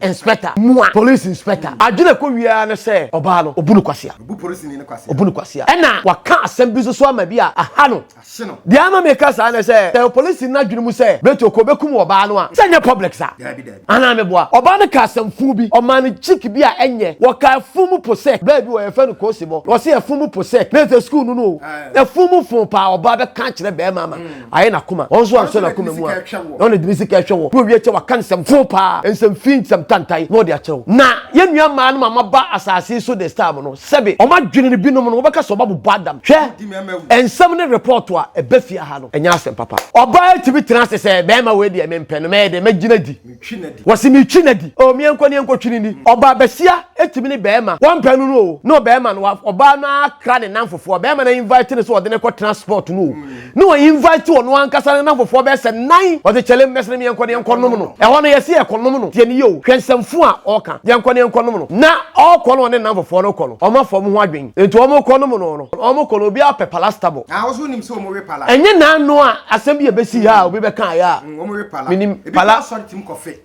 Inspector, Mua Police Inspector, adwene a ɛkɔ wie ara ne sɛ ɔbaa no, wɔbu no kwasea. Wɔbu polisini no kwasea. Wɔbu no kwasea. Ɛnna wɔaka asɛm bi nso so ama bi a aha no. Ahye no. Deɛ ama meka saa ne sɛ, sɛ polisini no adwene mu sɛ Beto kɔ bɛkum ɔbaa no a, sɛ ɛnyɛ public saa? Daabi, daabi. Anaa meboa? Ɔbaa no kaa asɛm fuu bi. Ɔmaa no chick bi a ɛnyɛ. Wɔkaa afunumu posɛk. Baa bi wɔ hɔ, yɛfrɛ no Koosibɔ. Wɔse afunumu posɛk. Na ɛsɛ sukuu no no o. Na afunumu foo paa. Ɔbaa bɛka akyerɛ barima ama ayɛ n'akoma wɔn nso ansɔ n'akoma mu a na ɔne dimi sika ɛhwɛ wɔ na owie kyɛ waka nsɛm fo paa nsɛm fi nsɛm tantae na ɔde akyerɛ wo na yɛn nua mmaa no ma maba asase so this time no sɛbe wɔn adwene no binom no wɔbɛka sɛ ɔbɛbobɔ adam hwɛ nsɛm ne report a ɛba fie ha no ɛnyɛ asɛm papa ɔbaa tumi tena ase sɛ bɛrima wei deɛ mempɛ no mɛyɛ dɛ mɛgyina di. twi no adi. Wɔse me twi no adi oo meɛ nkɔ ne yɛnkɔ twi no ni. Ɔbaa basia tumi ne bɛɛma wampɛ no no oo ne ɔbɛɛma no wa ɔbaa no ara kra ne namfofoɔ bɛɛma no invite no sɛ ɔde no kɔ tena spot no oo ne wa invite ɔno ankasa ne namfofoɔ bɛɛ sɛ nan ɔse kyɛlem mɛse no meɛnkɔ ne yɛnkɔ nom no ɛhɔ no yɛse yɛkɔ nom no tie no yie oo hwɛ nsɛm fo a ɔɔka yɛnkɔ ne yɛnkɔ nom no na ɔɔkɔ no ɔne ne namfofoɔ no kɔ no ɔmo afa ɔmo ho adwen nti ɔmo kɔ nom no no ɔmo kɔ no obiara pɛ palastabɔ. Naa wo so wonim sɛ ɔmo we pala? Ɛnyɛ naa no a asɛm bi a ɛbɛsii ha a obi bɛkaeɛ a. menim pala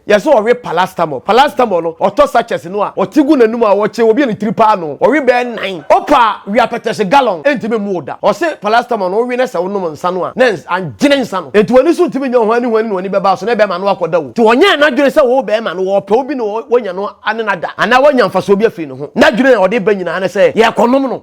yɛsɛ ɔwe palastamol palastamol no ɔtɔ sachets no a ɔte gu n'anum a ɔkye obi a ne tiri paa no ɔwe bɛɛ nan ɔpa wiapɛtɛhye gallon ɛntimi mmu da ɔse palastamol no wowe ne sɛ wonom nsa no a na angyene nsa no ɛnti w'ani so ntimi nyɛ hwani hwani na w'ani bɛba so na ɛbɛma no akɔda wo nti ɔnyɛɛ n'adwene sɛ wo bɛɛma no ɔpɛ obi na wanya no ane no ada anaa wanya mfasoɔ bi afiri ne ho n'adwene a ɔde ba nyinaa ne sɛ yɛkɔnom no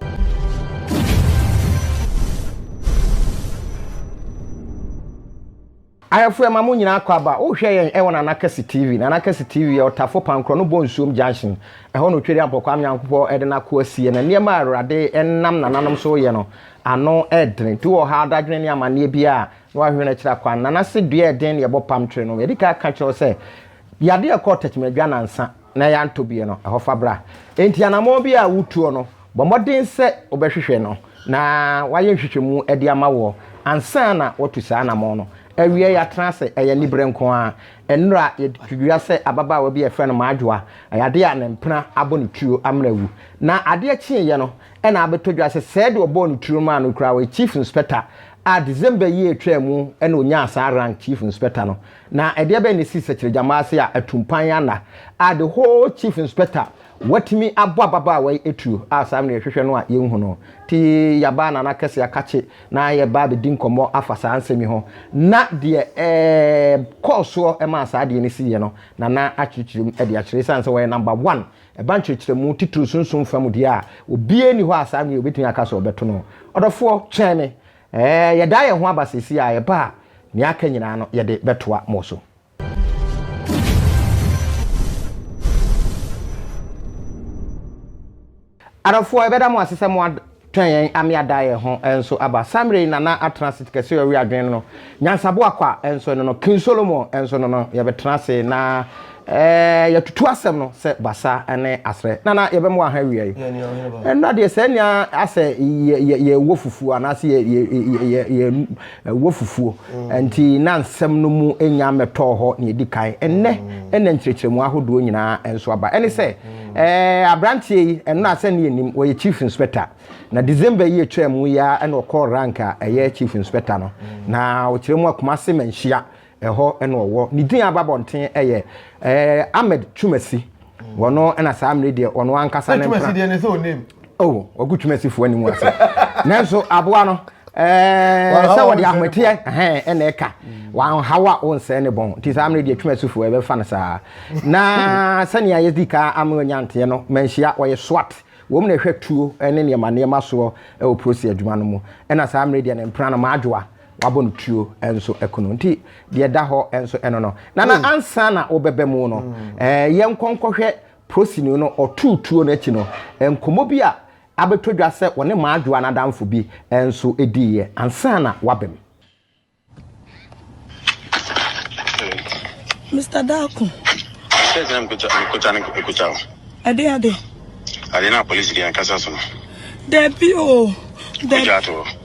Ayɛfo ɛma mo nyinaa kɔ aba wo hwɛ yɛn ɛwɔ nana kɛse TV nana kɛse TV yɛ ɔtafo pankorɔ no bɔ nsuom junction ɛhɔ na otweri ampɔ kwame nyankopɔ ɛde nakoa sie na nneɛma a awurade ɛnam nananom so yɛ no ano ɛdene tu wɔ ɔhaw dadwene ne amaneɛ biaa na wahwehwɛno akyiri akwan nana se dua ɛden na yɛbɔ pam twere no yɛdikan aka kyerɛ wo sɛ yade ɛkɔɔ tɛkyima dwa nansa na yɛantɔ bi no, ɛhɔ fa bra. Enti anammɔn bi a wotuo no, bɔ mmɔden sɛ wobɛhwehwɛ no na wayɛ nhwehwɛmu de ama woɔ ansa na woatu saa anammɔn no. Awiei, yɛatena ase, ɛyɛ aniberɛ nko ara. Nnora, yɛde to dua sɛ ababaawa bi a yɛfrɛ no Madwoa, ɛyɛ adeɛ a ne mpena abɔ ne tuo amena awu. Na adeɛ kyeeɛ no na abɛtɔ dwa sɛ sɛɛ deɛ ɔbɔɔ ne tuo maa no koraa, ɔyɛ Chief Inspector a December yi a ɛtwaa mu na ɔnyaa saa rank Chief Inspector no. Na ɛdeɛ bɛn na ɛsii Sɛkyerɛgyammaa ase a atumpan anna a the whole chief inspector watumi abɔ ababaawa yi atuo a saa mmerɛ yɛhwehwɛ no a yɛnhu no? Te yɛaba Nana Kɛse Akakye na yɛba abɛdi nkɔmmɔ afa saa nsɛm yi ho na deɛ ɛkɔɔ soɔ maa saa adeɛ no siiɛ no Nana akyerɛkyerɛ mu de akyerɛ ɛsiane sɛ ɔyɛ number one ɛba nkyerɛkyerɛmu titiriw sunsum fa mu deɛ a obiara nni hɔ a saa mmerɛ yi ɔbɛtumi aka sɛ ɔbɛto no. Ɔdɔfoɔ, twɛn me Ɛɛ, yɛda yɛn ho aba seesei a ɛba a nea aka nyinaa no yɛde bɛtoa mo so. Adɔfoɔ, yɛbɛda mo ase sɛ moatwɛn yɛn ame ada yɛn ho nso aba. Saa mmerɛ yi na na atena ase kɛse sɛ ɔwe adwene no no, nyansaboa kwa nso no no, King Solomon nso no no, yɛbɛtena ase na Ɛɛ yɛtutu asɛm no sɛ basa ne asrɛ. Nana yɛbɛ mo aha awia yi. Ɛnna deɛ sɛ nea asɛ yɛ yɛ yɛ wɔ fufuo anaasɛ yɛ yɛ yɛ yɛ yɛ wɔ fufuo nti na nsɛm no mu nya mmɛtɔɔ hɔ nea edi kan. Ɛnnɛ ɛnna nkyerɛkyerɛmu ahodoɔ nyinaa nso aba. Ɛne sɛ ɛɛ abranteɛ yi ɛno asɛ ne yɛnim ɔyɛ chief inspector na December yi etwaa mu yi ara ɛna ɔkɔɔ rank a ɛyɛ chief inspector no na ɔkyerɛ mu a Kumasi Manhyia Ɛhɔ na ɔwɔ. Ne din a aba abɔnten yɛ ɛɛ Ahmed Twumasi. Ɔno na saa mmere deɛ ɔno ankasa ne mpena. Twumasi deɛ ne sɛ onim. Oh, ɔgu Twumasifoɔ anim ase. Nanso aboa no ɛɛ sɛ wɔde ahometeɛ ɛhɛn ɛna ɛka. Wanhaw a ɔnsɛe ne bɔn. Nti saa mmere deɛ Twumasifoɔ ɛbɛfa no saa. Na sɛnea yɛdi ka ama ɔnya nteɛ no, manhyia ɔyɛ SWAT. Wɔn na ɛhwɛ tuo ne nneɛma nneɛma soɔ wɔ polisi adwuma no mu. Ɛna saa mmere deɛ ne mpena no, Maajoa, Wabɔ no tuo nso aku no. Nti deɛ ɛda hɔ nso ɛno no. Nana hmm. ansa na wobɛbɛ mu no, hmm. eh, yɛn nkɔnkɔhwɛ prosini no ɔtuu tuo no akyi no, nkɔmmɔ bi a abɛtɔ dwa sɛ wɔne maadwoa no adamfo bi nso diiɛ ansa na wabɛm. Mr. Dako. Sɛ gyina mekɔgya mekɔgya ne mekɔgya o. Ɛde ade. Ade na polisi deɛ nkasa so no. Dabi o. Kɔgya to.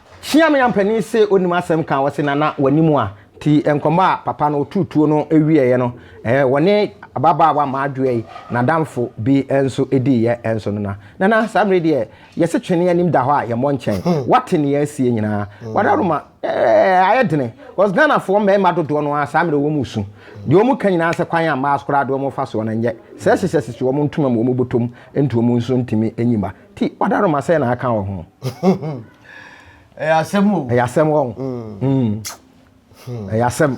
Hyiamyam panin se onim asɛm ka, ɔse Nana w'anim a. Nti nkɔmmɔ a papa no ɔtuu tuo no wieeɛ no, wɔne ababaawa mmaadwoa yi n'adamfo bi nso diiɛ nso no na, Nana saa mmerɛ yi deɛ yɛse twene anim da hɔ a yɛmmɔ nkyɛn, woate nea asie nyinaa? W'adaworoma ayɛ dene cause Ghanafoɔ mmarima dodoɔ no ara saa mmerɛ yi wɔn resu. Deɛ wɔn ka nyinaa sɛ kwan a mmaa so koraa de wɔn fa soɔ no nyɛ sɛ hyɛhyɛ sisi wɔn ntoma mu wɔn bɔtɔ mu nti wɔn nso ntumi nyi mma. Ti wadaroma sɛ na aka wɔ ho. Ɛyɛ asɛm o. Ɛyɛ asɛm wɔ. Mm. Mm. Ɛyɛ asɛm.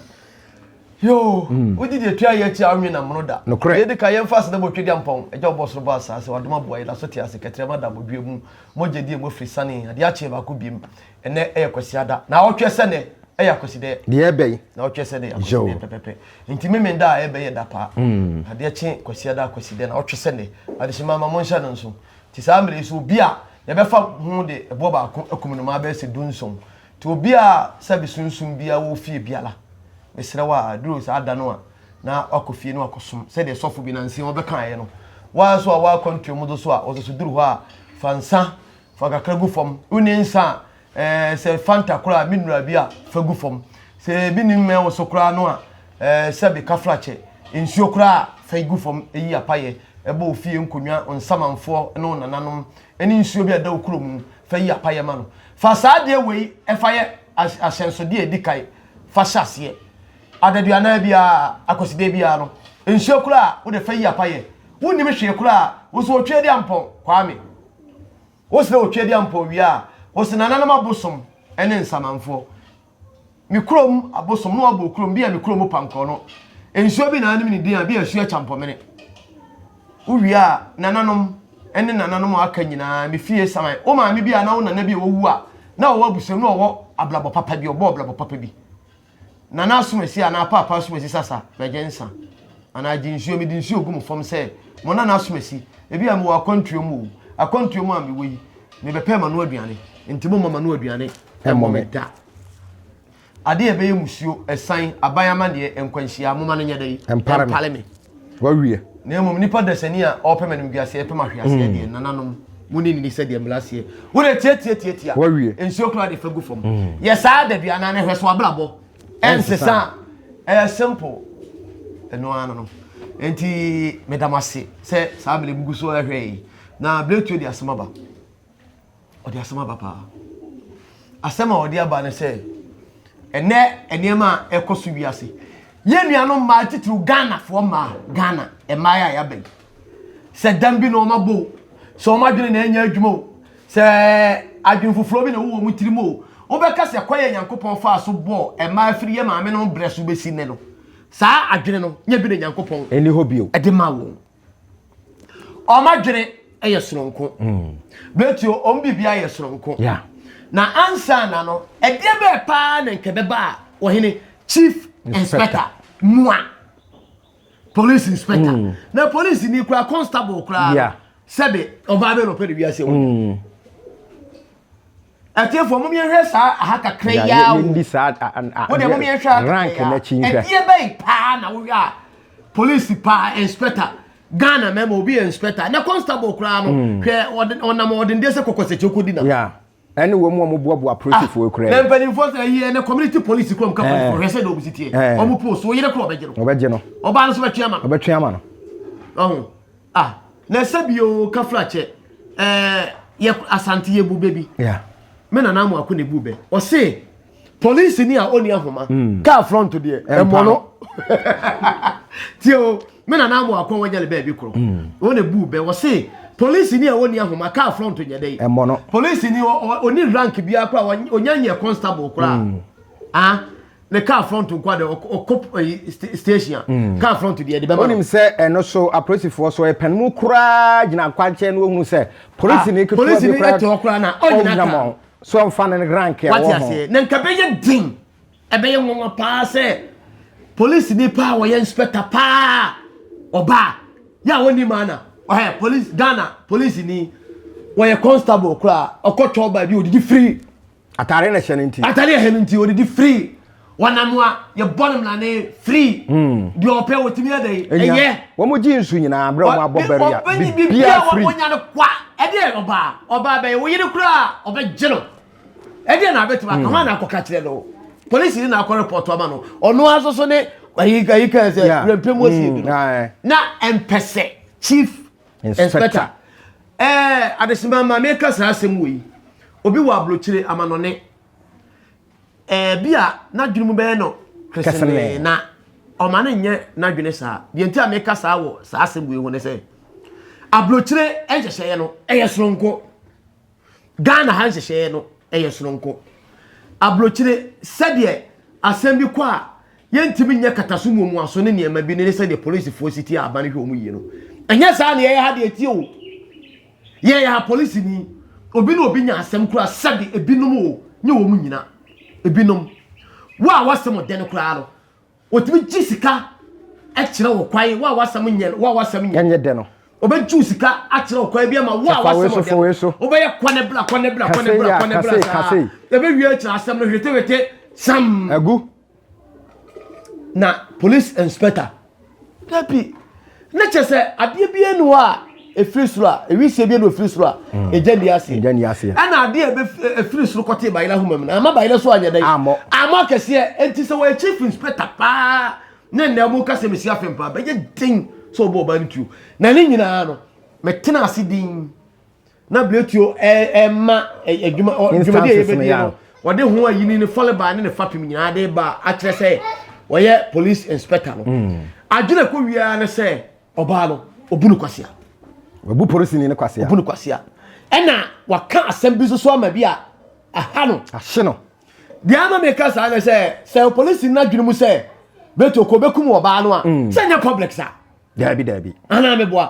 Yoo, mm. wogye deɛ tua yɛ akyi a wonwe na mono da. Nokorɛ. Yɛdi ka yɛmfa ase na bɔtwe di ampɔn. Agya ɔbɔ soro bɔ asaase, wadom aboa yɛ, da so te ase, kɛtrɛma da abodwoa mu. Mogya di emu afiri sane, adeɛ akyee baako biem. Ɛnɛ ɛyɛ Kwasiada. Naawɔtwe sɛ nɛ ɛyɛ Akwasidɛ. Deɛ ɛbɛn. Naawɔtwe sɛ nɛ yɛ Akwasidɛ pɛpɛpɛ. Nti Memenda a ɛbɛyɛ da pa. Adeɛ kye Kwasiada Akwasidɛ naawɔtwe sɛ nɛ. Adehyema ma monhyɛ no nso. Nti saa mmerɛ yi so obi a yɛbɛfa ho de ɛboɔ baako akum no ma abɛyɛ sɛ dunson. Nti obi a sɛbe sunsum biara wɔ fie biara mesrɛ wo a ɛduru saa da no a na wakɔ fie na wakɔ som sɛdeɛ sɔfo bi nansa yi ɔbɛkaeɛ no. Wo ara nso a wo akwantuo mu do so a ɔso so duru hɔ a fa nsa Fa kakra gu fam. Wonni nsa a, eh, sɛ Fanta koraa a, me nura bi a, fa gu fam. Sɛ ebi nni mmɛn wo so koraa no a, eh, sɛbe kafrakyɛ, nsuo koraa a, fa gu fam. Eyi yɛ apayɛ ɛbɔ wo fie nkonnwa, wo nsamanfoɔ ne wo nananom, ne nsuo bi a ɛda wo kuro mu. Fa yi apayɛ ma no. Fa saa adeɛ wei fa yɛ ahyɛnsodeɛ a ɛdi kan fa hyɛ aseɛ. Adaduanan biara, Akwasideɛ biara no, nsuo koraa a, wo deɛ fa yi apayɛ. Wonnim hwee koraa a, wo nso wɔtwe adi ampɔn, Kwame. Wosena Otwedeampɔw wie a, wosena Ananom abosom ne Nsamanfo. Me kurom abosom na wɔabɔ kurom bi a me kurom pankɔ no. Nsuo bi na anim ne din a bi a Asuo Kyampɔmene. Wowie a, Nananom ne Nananom a aka nyinaa, me fie saman. Wo maame bi a na wo nana bi a wawu a na ɔwɔ abusua mu na ɔwɔ abrabɔ papa bi, ɔbɔɔ abrabɔ papa bi. Nana asomasi anaa Paapa asomasi sasa bɛgye nsa anaa gye nsuo mede nsuo gu mo fam sɛ mo Nana asomasi ebia mewɔ akwantuo mu o akwantuo mu a mewɔ yi mebɛpɛɛ m'ano aduane nti momma m'ano aduane mmɔ me da adeɛ ɛbɛyɛ musuo ɛsan aban amanneɛ nkwanhyia momma no nyɛ dɛn ɛmpale me Wawie. Na mmom nipa dasani a ɔpɛ m'animguaseɛ pɛ m'ahweaseɛ deɛ, nananom, mo ne nini sɛdeɛ mmara seɛ. Wo deɛ tiatia tiatia. Wawie. Nsuo koraa de fa gu fam. Mm. Yɛ saa da bi anaa na hwɛ so abrabɔ. Ɛnsesa. Ɛyɛ simple. Ɛno ara no. Nti meda mo ase sɛ saa bere bugu so ɛhwɛ yi. Na bere tuo de asɛm aba. Ɔde asɛm aba paa. Asɛm a ɔde aba ne sɛ, ɛnɛ nneɛma a ɛkɔ so wiase, yɛn nuanom mmaa titiriw Ghanafoɔ mmaa, Ghana mmaa a yɛaba yi, sɛ dam bi na wɔn abɔ o, sɛ wɔn adwene na ɛnyɛ adwuma o, sɛ adwene foforɔ bi na ɛwɔ wɔn tirim o, wobɛka sɛ kwan a Nyankopɔn faa so bɔɔ mmaa firi yɛn maamenom berɛ so bɛsi nnɛ no, saa adwene no nyɛ bi na Nyankopɔn de maa wɔn. wɔn adwene yɛ soronko mm. bɛti wɔn biribiara yɛ soronko yeah. na ansa na no ɛdeɛ bɛɛ paa na nkɛbɛba a wɔhene chief inspector mua police inspector mm. na police ni kura constable kura yeah. sɛbe ɔbaa bɛ na ɔpɛ de wiase wɔn. Mm. Atiefo, mom yɛnhwɛ saa aha kakra yi ara o. Wo deɛ mom yɛnhwɛ aha kakra yi ara. Ɛdeɛ bɛyi paa na wohwɛ a polisi paa inspector Ghana mɛma obi yɛ inspector na constable koraa no hmm. hwɛ ɔnam ɔdendeɛ sɛ kɔkɔsɛkyɛ ɔkɔdi na. ɛne wɔn mu a wɔboaboa polisifoɔ ah, kura yi. na mpanimfoɔ sɛ ɛyi ɛnɛ community police kura mu ka polisifoɔ hwɛ sɛ na wɔn si teɛ wɔn post wɔn yere kura ɔbɛgye no. ɔbɛgye no. ɔbaa no so bɛtwe ama no. ɔbɛtwe ama no. ɔho. Ah, na ɛsɛ bi o kafra kyɛ. Eh, yɛ asante yɛ bu bɛbi. Yeah. Me na na mo ako ne bu bɛ. Ɔse police ni a oni ahoma. Mm. Car front deɛ ɛmɔ no. Tie o, me na na mo ako wɔnyɛ ne baabi koro. Mm. Wɔn ne bu bɛ. Ɔse police ni a oni ahoma car front nyɛ dɛ. Ɛmɔ no. Police ni oni rank bi akora onya nyɛ constable kora. Mm. Ah, ne car front nko de ɔkɔ eh, station a mm. car front deɛ de bɛma no. wonim sɛ ɛno so apolisifoɔ so ɛpɛn mu koraa gyina akwankyɛn no wɔhunu sɛ polisi ne ketewa bi koraa ɛte hɔ koraa na ɔnyina kaa so ɔmfa ne rank ɛwɔ ho. wate aseɛ na nka bɛyɛ den ɛbɛyɛ nwanwa paa sɛ polisi ni paa wɔyɛ inspector paa ɔbaa yɛ a wɔnim ana ɔhɛ polisi ghana polisi ni wɔyɛ constable koraa ɔkɔtɔ ɔbaa bi odidi firi atare na ɛhyɛ no nti atare ɛhyɛ no nti ɔdidi firi wɔnam a yɛbɔ no mmara ne firi hmm. deɛ ɔpɛ wɔtumi ada yi ɛyɛ wɔn gye nsu nyinaa berɛ wɔn abɔ bɛri a bibia firi wɔnya no kwa ɛdeɛ ɔbaa ɔbaa bɛyɛ wɔyere koraa ɔbɛgye no ɛdeɛ na abɛtumi aka hmm. hɔn na akɔka kyerɛ no polisi ni na akɔ report ama no ɔno aso so ne ayi ayi kan sɛ rɛmpɛ mu osi bi no na mpɛsɛ chief Inspector. Ɛɛ adesima ma meka saa asɛm wɔ yi. Obi wɔ abrokyire amanɔne. Ɛɛ bi a n'adwene mu bɛyɛ no kesene na ɔma no nyɛ n'adwene saa. Deɛ nti a meka saa wɔ saa asɛm wɔ yi ho ne sɛ abrokyire nhyehyɛeɛ no ɛyɛ soronko. Ghana ha nhyehyɛeɛ no yɛ sononko. Aburokyire, sɛdeɛ asɛm bi kɔ a yɛntumi nyɛ kataso mu omuaso ne nneɛma bi no ne sɛdeɛ polisifoɔ si tie aban hwɛ wɔn yie no. Ɛnyɛ saa na yɛyɛ ha deɛ tie o. Yɛyɛ ha polisini. Obi ne obi nya asɛm kura sɛde ebinom o, nyɛ wɔn nyina. Ebinom. Wo a wɔse mo dɛn koraa no, Wɔtumi gye sika kyerɛ wo kwan, wo a w'asɛm nyɛ no, wo a w'asɛm nyɛ. Ɛnyɛ dɛ no. Wɔbɛgye wo sika akyerɛ wo kwan bi ama wo a w'asɛm ɔdɛ no. Wobɛyɛ kɔ ne bla, kɔ ne bla, kɔ ne bla, kɔ ne bla saa. Yɛbɛwie akyerɛ asɛm no hwetewete sam. Agu. Na police inspector. Dabi. Na kyerɛ sɛ adeɛ biara ni hɔ a ɛfiri soro a ɛwisie biara na ɔfiri soro a ɛgya nni aseɛ ɛgya nni aseɛ ɛna adeɛ a ɛfiri soro kɔtee bayerɛ ahoma mu no ama bayerɛ so anyɛ dɛn ammɔ ammɔ akɛseɛ ɛnti sɛ wɔyɛ chief inspector paa ne nnɛ mu ka sɛ mesi afem paa bɛyɛ den sɛ ɔbɔ ɔbaa no tuo na ne nyinaa no metena ase din na bletuo ɛma adwuma dwumadi a yɛbɛdie no wɔde ho ayini ne fɔlebaa ne ne fapem nyinaa de ba akyerɛ sɛ wɔyɛ police inspector no hmm. adwene kɔ wiaa ne sɛ ɔbaa no ɔbu no kwasea ɔbu polisini ne kwasea ɔbu no kwasea ɛna waka asɛm bi nso so ama bi a aha no ahye no deɛ ama meka saa ne sɛ sɛ polisini no adwene mu sɛ bletuo kɔ bɛkum ɔbaa no a hmm. sɛ nyɛ public saa daabi daabi ana meboa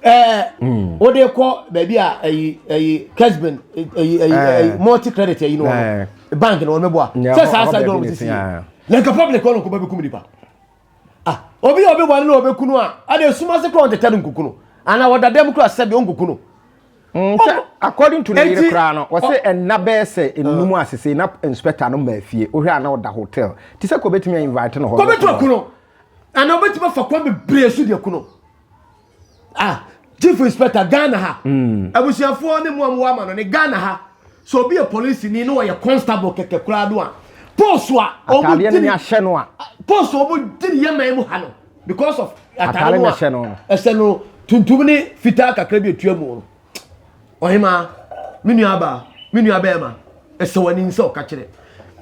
ɛɛ hmm. wode kɔ baabi a ɛyi ɛyi kesbin ɛyi ɛyi ɛyi multi credit ɛyi no wɔn bank no wɔn meboa sɛ saa saa dɔn sisi na nka public wɔn nkɔba bɛ kum nipa ah obi a obi wale na ɔbɛ kunu a ɛna esuma se kura ɔntɛtɛ no nkukunu ana ɔda dɛm kura sɛbi ɔnkukunu. Mm, sɛ according to ne yere koraa no wɔsɛ ɛnna bɛyɛ sɛ nnum asese na inspector no maa fie wohwɛ a na ɔda hotel te sɛ kɔbɛtumi a invite no hɔ kɔbɛtumi kuno Ana obetumi afa kwan bebree so de aku no. Ah, chief inspector Ghana ha. Mm. Abusuafoɔ ne mu a mo ama no ne Ghana ha. So obi yɛ police ni na wɔyɛ constable kɛkɛ koraa do a. Post a wɔn di ni ahyɛ no a. Post a wɔn di ni yɛ man mu ha no because of atare no a ɛhyɛ no tuntum ne fitaa kakra bi etua mu no. Ɔhemaa, me nuabaa, me nuabɛrima, ɛsɛ w'ani sɛ ɔka kyerɛ.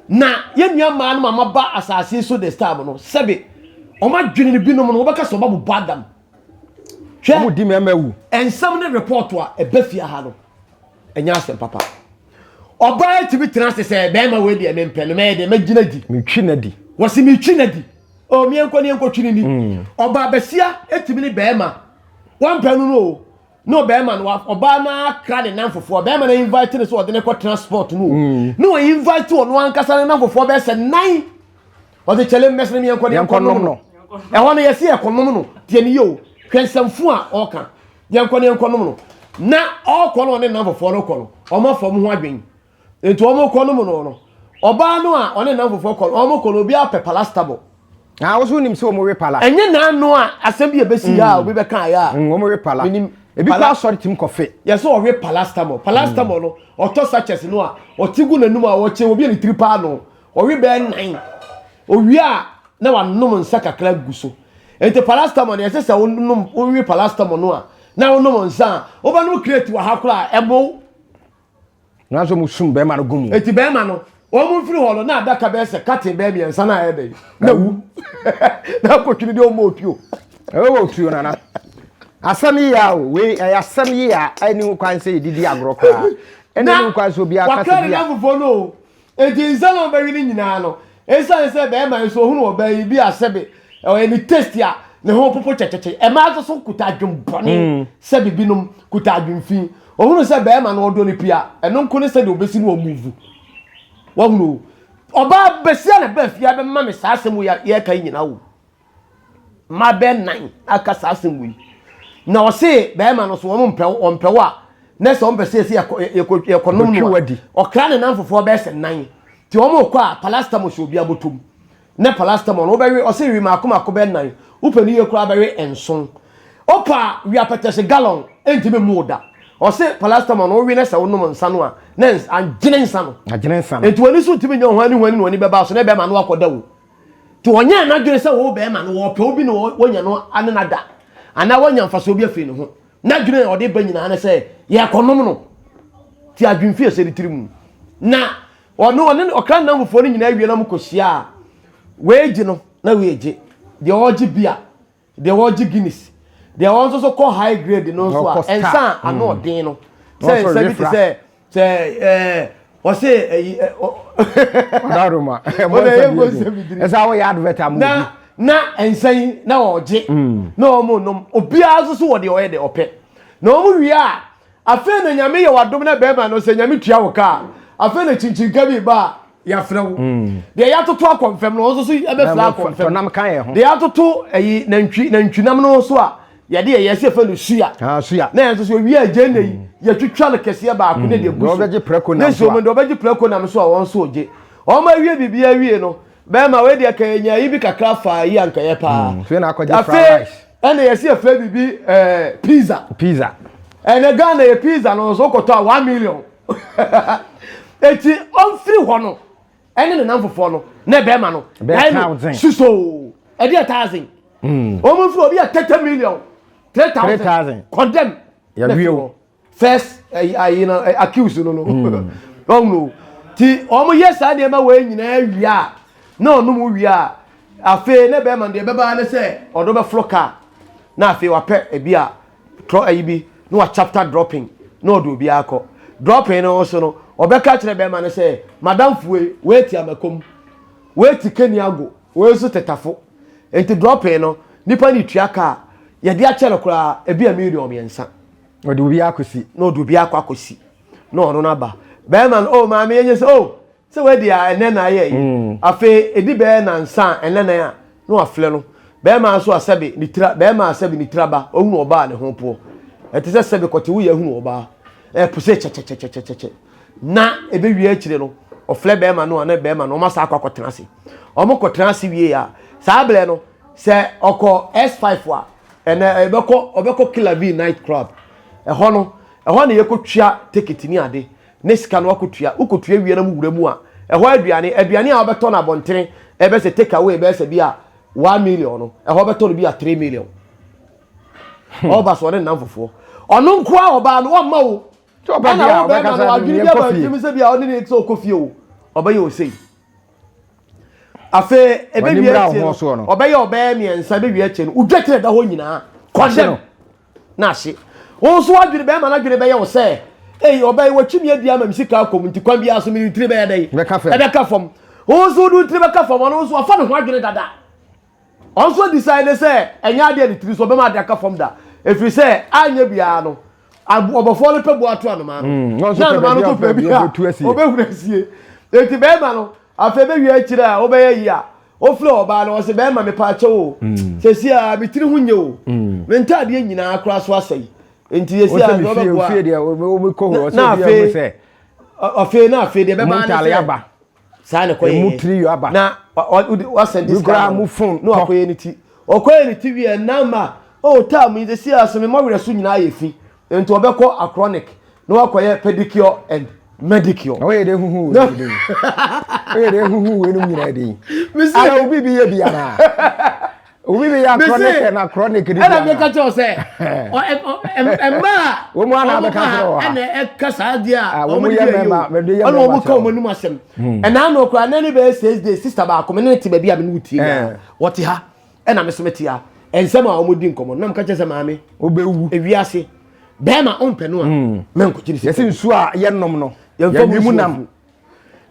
Na yɛn nuammaa no ma maba asase so this time no, sɛbe wɔn adwene no binom no wɔbɛka sɛ wɔabobɔ adam. Hwɛ, wɔn di mmarima wu. Nsɛm ne report a ɛbɛ fie ha no, ɛnyɛ asɛm papa. Ɔbaa etimi tena ase sɛ bɛrima wei deɛ mempɛ no mɛyɛ deɛ mɛgyina di. Metwi na di. Wɔsi metwi na di. O miɛnkɔ ne yɛnkɔ twi ne ni. Ɔbaa basia etimi ne bɛrima wɔmpɛ no no o. na ɔbɛrima no ɔbaa no akra ne nan fofoɔ ɔbɛrima no invite no sɛ ɔde no kɔtena sport mu mm. na ɔyɛ invite ɔno ankasa ne nan fofoɔ bɛyɛ sɛ nan ɔde kyɛlɛ mmɛsɛ no miɛnkɔ ne ɛnkɔnom no ɛhɔ no yɛsi ɛkɔnom no deɛ ne yɛ o hwɛ nsɛmfo a ɔka yɛnkɔ ne ɛnkɔnom no na ɔkɔ no ɔne nan fofoɔ no kɔ no ɔma fam ho adwen Enti wɔkɔ no mu no no, ɔbaa no a ɔne nam foforɔ kɔ no, wɔkɔ no obiara pɛ palastable. Ah, wo so nim sɛ wɔn we pala. Ɛnyɛ na ano a asɛm bi a ɛbɛsi ha a obi bɛka ayɛ a. Wɔn we pala. Menim. Ebi kɔ asɔre tim kɔ fe. Yɛ sɛ ɔwe palastable. Palastable no, ɔtɔ sachets no a, ɔte gu n'anum a ɔkye, ɔbie ne tiri paa no. Ɔwe bɛyɛ nnan. Owie a, na wanom nsa kakra agu so. Enti palastable no, ɛsɛ sɛ wonom, wowe palastable no a, na wonom nsa a, wobɛnom kreti wɔ ha koraa a, ɛbow. nanso wɔn sum bɛrima no gu mu. eti bɛrima no wɔn mu nfiri hɔ no na adaka bɛyɛ sɛ katin bɛyɛ mmiɛnsa na ayɛ dɛ na wu na akotwiri deɛ ɔmo otuo. ɛwɔ wɔ otuo nana asɛm yi yɛ o wei ɛyɛ asɛm yi yɛ a ɛni ho kwan sɛ yɛdidi agorɔ koraa ɛna ɛni ho kwan sɛ obi akasa bi a. na wakra ne nanfofoɔ no o Enti nsa na ɔbɛwe ne nyinaa no esiane sɛ bɛrima nso ohunu ɔbaa yi bi a sɛbe ɔyɛ ne taste a ne ho popo kyɛkyɛkyɛ. Ɛmaa nso so kuta adwen bɔne sɛ bibinom kuta adwen fi. Ohunu sɛ bɛrima no ɔdɔ ne pia, ɛno nko ne sɛdeɛ ɔbɛsi no ɔmuvu. Wahunu o. Ɔbaa basia na ɛbaa fie abɛma me saa asɛm wei a yɛreka yi nyinaa o. mmaa bɛyɛ nan aka saa asɛm wei na ɔse bɛrima no so wɔn mpɛ wo wɔn mpɛ wo a na sɛ wɔn pɛ sɛ yɛsi yɛkɔ yɛkɔ yɛkɔ nom no ɔkra ne nan fofoɔ bɛyɛ sɛ nan te wɔn kɔ a palastamo hyɛ obi abotom ne palastamo no wobɛwe ɔse wi mako mako bɛyɛ nan wopɛ ne yie koraa bɛwe nson opa wi apɛtɛse galɔn ɛntumi mu da ɔse palastamo no wowe ne sɛ wonom nsa no a na agyene nsa no agyene nsa no nti wɔn ani so ntumi nyɛ wɔn ani wɔn ani na wɔn ani bɛba so na ɛbɛma no akɔda o Nti ɔnyɛɛ n'adwene sɛ ɔwɔ bɛrima no, ɔpɛ obi na wɔnya no ane no ada, anaa wɔanya mfasoɔ bi afiri ne ho. N'adwene a ɔde ba nyinaa ne sɛ yɛrekɔnom no. Nti adwene fi ɛsɛ ne tiri mu. Na ɔno ɔne ne ɔkra nnamfofoɔ no nyinaa wie na wɔkɔhyia a, wei gye no na wei gye. Deɛ ɔregye bi a, Deɛ ɔregye Guinness, deɛ ɔno nso so kɔ high grade no nso a, nsa a ano ɔden no, sɛ nsa bi te sɛ sɛ ɛɛ ɔse ɛyi ɛ ɔ. Ɔdaroma ɛmɔ nsa bi ɔden ɛsɛ awɔ yɛ advert amu bi. Na na nsa yi na ɔgye na wɔn nom obiara nso so wɔ deɛ ɔyɛ deɛ ɔpɛ na wɔn wie a Afei na nyame yɛ wadom na bɛrima no sɛ nyame tua wo ka a afei na kyinkyinkɛ bi ba a yɛafrɛ wo mm. deɛ yɛatoto akɔ mfam no nso so ɛbɛfrɛ akɔ mfam deɛ yɛatoto ayi nantwi nantwinam no so a yɛde yɛ yɛsɛ fɛ no suya ah, suya na yɛn nso so ewia agye na yi mm. yɛtwitwa no kɛseɛ baako ne deɛ mm. gu so ne nsuo mu deɛ ɔbɛgye prɛko nam so a wɔn nso gye wɔn awie biribi awie no bɛrima wei deɛ kɛyɛ nya yi bi kakra fa yi ankɛyɛ paa afei ɛna yɛsi efrɛ biribi ɛɛ eh, pizza. pizza. ɛnɛ ghana yɛ pizza no nso kɔtɔ a one million eti ɔnfiri hɔ no ɛne ne nan fofoɔ no na ɛbɛɛma no ɛyɛ no susoo ɛde yɛ thousand wɔn nfiri obi yɛ thirty million three thousand condemn yɛ wie o. first ɛyi ayi na ɛ accuse no no ɔhun hmm. o ti wɔn yɛ saa nneɛma wɔ yɛ nyinaa wia a na ɔnom wia a afei ne bɛrima deɛ bɛbaa ne sɛ ɔdo bɛforo kaa na afei wapɛ ebi a trɔ ɛyi bi na wa chapter dropping na ɔde obi akɔ dropping no nso no ɔbɛka kyerɛ bɛrima ne sɛ madam fue wɛɛti amakom wɛɛti keniago wɛɛ nso tɛtafo nti dropping no nipa ne tua kaa yɛde akyɛ no koraa ebi a million mmiɛnsa. ɔde obi akɔsi na ɔde obi akɔ akɔsi na ɔno no aba bɛrima no o oh, maame yɛnyɛ sɛ o oh, sɛ wadi a ɛnɛ na ayɛ yi mm. afei ɛdi bɛɛ nansa a ɛnɛ na a na wafrɛ no bɛrima nso asɛbe ne tira bɛrima asɛbe ne tira ba ɔhunu ɔbaa ne ho poɔ ɛte sɛ sɛbe kɔte woyɛ ahunu ɔbaa ɛpo sɛ kyɛkyɛkyɛkyɛkyɛkyɛ na ɛbɛwie akyire no ɔfrɛ bɛrima no a na bɛrima no ɔma saa akɔ akɔtena ase ɔmo kɔtena ase wie a saa berɛ no Sɛ ɔkɔ S5 a, ɛnɛ ɛbɛkɔ ɔbɛkɔ Killer Bee night club. Ɛhɔ no, ɛhɔ na yɛkɔtua ticket ne ade ne sika no wakɔtua. Wokɔtua wie na mowura mu a, ɛhɔ aduane, aduane a wobɛtɔ no abɔntene, ɛbɛyɛ sɛ take away bɛyɛ sɛ bi a one million no, ɛhɔ wobɛtɔ no bi a three million. Ɔba so ɔne nnamfofoɔ. Ɔno nko ara ɔbaa no, ɔmma wo. Sɛ ɔpɛ Ɛna deɛ a, wo bɛrima ɔbɛkasa no, de adwene bi yɛnkɔ aba fie. ntim sɛ bi a ɔne ne sɛ ɔkɔ fie o, ɔbɛyɛ o sei. afei ebewie akyire no ɔbɛyɛ ɔbɛyɛ mmiɛnsa ebewie akyire no odwa tiri ɛda hɔ nyinaa kɔndɛm n'ahye wɔn nso wadwiri bɛrima n'adwiri bɛyɛ wɔ sɛ eyi ɔbɛyɛ wɔtwi mi adi ama mi sika akɔ mu nti kwan bi aso mi tiri bɛyɛ dɛ ɛbɛka fam wɔn nso wɔn tiri bɛka fam wɔn nso wafa ne ho adwiri dada Ɔno nso decide sɛ ɛnyɛ adeɛ ne tiri so ɔbɛma adeɛ aka fam da ɛfiri sɛ anyɛ biara no ɔbɔfoɔ no pɛ boa to anoma no mm, na anoma no nso pɛ bi a ɔbɛhunu asie enti bɛrima no afei bɛwie akyirɛ a wobɛyɛ yi a wofrɛ ɔbaa no ɔsɛ bɛrima mepa akyɛ o mm. sɛsi a metiri ho nyɛ o mm. me ntaadeɛ nyinaa koraa so asɛe enti yɛsi a na ɔbɛboa na afei na afei deɛ bɛbaa ne sɛ saa na ɛkɔ yɛ emu tiri yɔ aba na wasɛn diska na mu fon na wakɔ yɛ ne ti ɔkɔ yɛ ne ti wiɛ nama o oh, taa mu yi de si aso mi ma werɛ so nyinaa yɛ fi nti ɔbɛkɔ acronic na wakɔ yɛ pedicure and medicure. na wɔyɛ de ehuhu wɔ ebi de wɔyɛ de ehuhu wɔ enum nyinaa de yi ala obi bi yɛ biara obi bi ya chronic na chronic ni ɛna mi ka kyerɛ sɛ mmaa wɔn mu ana abɛka kyerɛ wa ɛna ɛka saa di a wɔn yɛ mɛma mɛdi yɛ mɛma ɛna wɔn ka wɔn anim asɛm ɛna ano okura nani bɛyɛ six days sista baako mi ne ti baabi a mi ne wo tie na wɔte ha ɛna mi so mi te ha nsɛm a wɔn di nkɔmɔ nam ka kyerɛ sɛ maame obewu ewi ase bɛrima ɔmpɛ no a mɛ nkɔkyiri sɛ yɛsi nsu a yɛnom no yɛn mu nam.